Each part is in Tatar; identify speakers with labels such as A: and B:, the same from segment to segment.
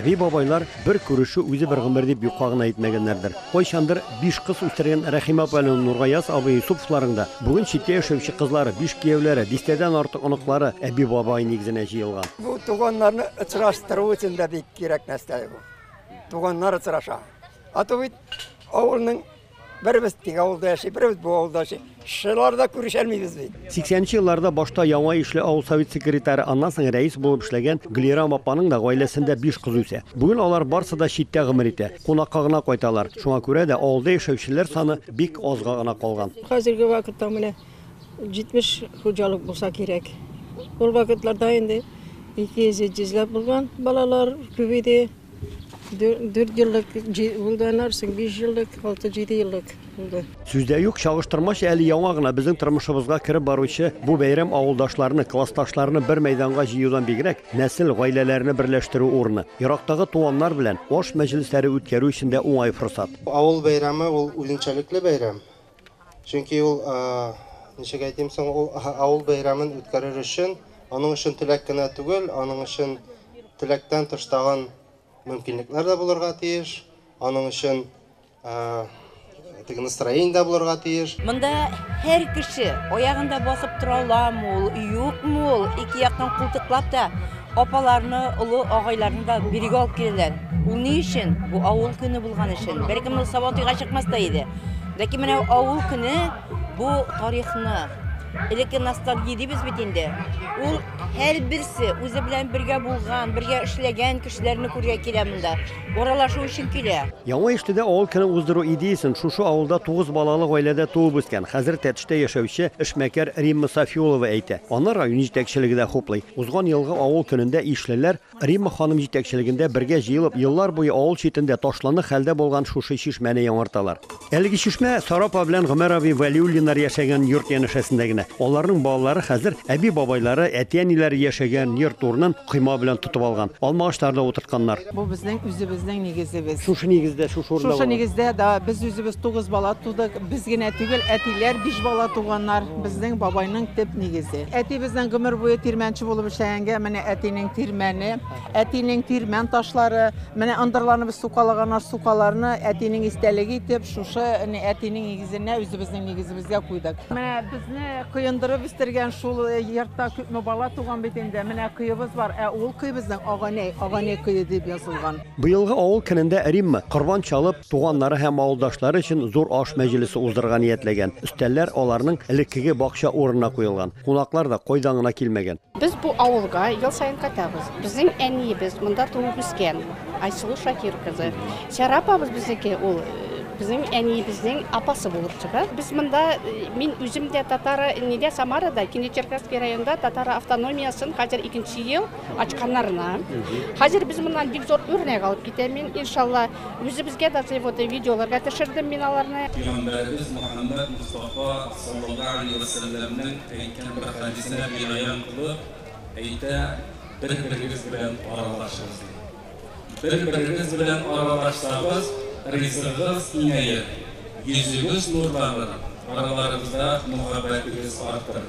A: Әби-бабайлар бер күрешү үзе бер гомер дип юкка гына әйтмәгәннәрдер. Кайчандыр биш кыз үстергән Рәхимә апаның, Нургаяз абый Йосыповларың да, бүген читтә яшәүче кызлары, биш кияүләре, дистәдән артык оныклары әби-бабай нигезенә җыелган. Бу туганнарны
B: очраштыру өчен дә бик кирәк нәрсә бу. Туганнар очраша. А то бит авылның Беребез теге авылда яши, беребез бу авылда яши. Шулар да күрешәлмибез бит. 80нче елларда башта
A: яңа ишле авыл совет секретаре, аннан соң рәис булып эшләгән Гөлирам апаның да гаиләсендә биш кыз үсә. Бүген алар барсы да читтә гомер итә, кунакка гына кайталар. Шуңа күрә дә авылда яшәүчеләр саны бик азга гына калган. Хәзерге вакытта
C: менә 70 хуҗалык булса кирәк. Ул вакытларда инде 200-300 ләп булган балалар күп иде. Дүрт еллык булды, аннары соң биш еллык, алты-җиде еллык булды. Сүз дә юк,
A: чагыштырмача әле яңа гына безнең тормышыбызга кереп баручы бу бәйрәм авылдашларны, классташларны бер мәйданга җыюдан бигрәк, нәсел, гаиләләрне берләштерү урыны, ерактагы туганнар белән аш мәҗлесләре үткәрү өчен дә уңай форсат. Авыл бәйрәме
D: ул үзенчәлекле бәйрәм. Чөнки ул, ничек әйтим соң, ул авыл бәйрәмен үткәрер өчен, аның өчен теләк кенә түгел, аның өчен теләктән тыш тагын мөмкинлекләр дә булырга тиеш, аның өчен теге настроение дә булырга тиеш. Монда һәр
E: кеше аягында басып тора аламы ул, юкмы ул, ике яктан култыклап та Апаларны, олы агайларны да бирегә алып киләләр. Ул ни өчен? Бу авыл көне булган өчен. Бәлкем ул сабантуйга чыкмас та иде. Ләкин менә авыл көне бу тарихны, элекке ностальгия дибез бит инде. Ул һәрберсе үзе белән бергә булган, бергә эшләгән кешеләрне күрергә килә монда. Аралашу өчен килә. Яңа Иштедә авыл
A: көне уздыру идеясен шушы авылда тугыз балалы гаиләдә туып үскән, хәзер Тәтештә яшәүче эшмәкәр Римма Сафиулова әйтә. Аны район җитәкчелеге дә хуплый. Узган елгы авыл көнендә ишлеләр, Римма ханым җитәкчелегендә бергә җыелып, еллар буе авыл читендә ташланы хәлдә булган шушы чишмәне яңарталар. Әлеге чишмә Сара апа белән Гомәр абый Вәлиуллиннар яшәгән йорт янәшәсендә генә. Аларның балалары хәзер әби-бабайлары, әти-әниләре яшәгән йорт урынын койма белән тотып алган. Алма агачлары да утыртканнар. Бу безнең
F: үзебезнең нигезебез. Шушы нигездә, шушы
A: урында Шушы булган. нигездә, да, без
F: үзебез тугыз бала тудык. Без генә түгел, әтиләр биш бала туганнар. Безнең бабайның төп нигезе. Әтибезнең гомер буе тирмәнче булып эшләгәнгә, менә әтинең тирмәне. Әтинең тирмән ташлары, менә ындырларны без сукалаган аш сукаларны әтинең истәлеге итеп шушы әтинең нигезенә үзебезнең нигезебезгә куйдык. Менә безне коендырып үстергән шул йортта күпме бала туган бит инде. Менә көебез бар, ә ул көй безнең Аганәй, Аганәй көе дип язылган. Быелгы авыл көнендә
A: Римма, корбан чалып, туганнары һәм авылдашлары өчен зур аш мәҗлесе уздырырга ниятләгән. Өстәлләр аларның элеккеге бакча урынына куелган. Кунаклар да кайдан гына килмәгән. Без бу авылга
G: ел саен кайтабыз. Безнең әниебез монда туып үскән, Айсылу Шакир кызы. Сәра апабыз безнеке, ул безнең әниебезнең апасы булып чыга. Без монда, мин үзем дә татара, нидә Самарада, Кинечеркасский районда татара автономиясен хәзер икенче ел ачканнарына. Хәзер без моннан бик зур үрнәк алып китәм мин, иншалла. Үзебезгә дә свои вот видеоларга төшердем мин аларны. Пигамбәребез
H: Мөхәммәд Мостафа саллаллаһу галәйһи вә сәлләмнең Әйткән бер хәдисенә бинаян кылып әйтә, Бер-берегез белән аралашыгыз, ди. Бер-берегез белән аралашсагыз, ризыгыгыз киңәер, йөзегез нурланыр, араларыгызда мөхәббәтегез артыр.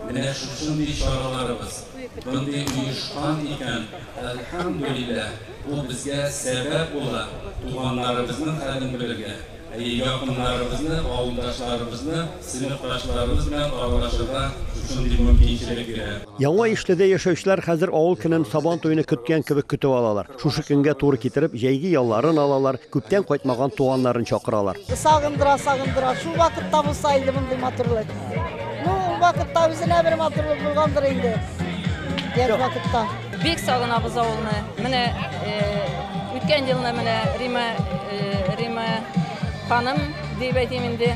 H: Менә шушындый чараларыбыз, мондый оешкан икән, әлхәмдүлилләһ, бу безгә сәбәп була туганнарыбызның хәлен белергә. Әйе, якыннарыбызны, авылдашларыбызны, сыйныфташларыбыз белән аралашырга шушындый мөмкинчелек бирә. Яңа Ишледә
A: яшәүчеләр хәзер авыл көнен Сабан туены көткән кебек көтеп алалар. Шушы көнгә туры китереп, җәйге ялларын алалар, күптән кайтмаган туганнарын чакыралар. Сагындыра, сагындыра.
I: Шул вакытта булса иде мондый матурлык. Ну, ул вакытта үзенә бер матурлык булгандыр инде. Яшь вакытта. Бик сагынабыз
J: авылны. Менә үткән елны менә Рима Рима ханым дип әйтим инде,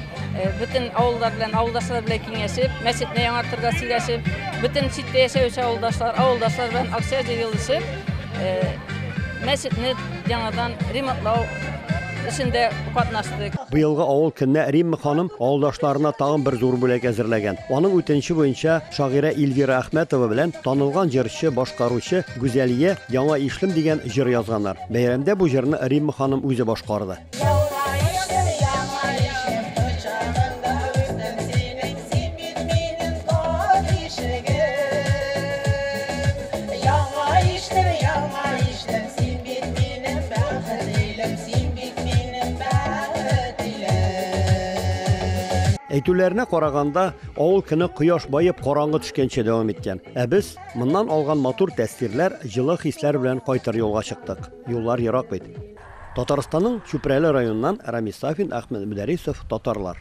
J: бөтен авыллар белән, авылдашлар белән киңәшеп, мәчетне яңартырга сөйләшеп, бөтен читтә яшәүче авылдашлар, авылдашлар белән акча җыелышып, мәчетне яңадан ремонтлау эшендә катнаштык. Быелгы авыл көненә
A: Римма ханым авылдашларына тагын бер зур бүләк әзерләгән. Аның үтенече буенча Шагыйрә Ильвира Әхмәтова белән танылган җырчы, башкаручы Гүзәлия Яңа ишлем дигән җыр язганнар. Бәйрәмдә бу җырны Римма ханым үзе башкарды. Әйтүләренә караганда, Авыл көне кояш баеп, караңгы төшкәнче дәвам иткән. Ә без моннан алган матур тәэсирләр, җылы хисләр белән кайтыр юлга чыктык. Юллар ерак бит. Татарстанның Чүпрәле районыннан Рамис Сафин, Әхмәт Мөдәрисов, Татарлар.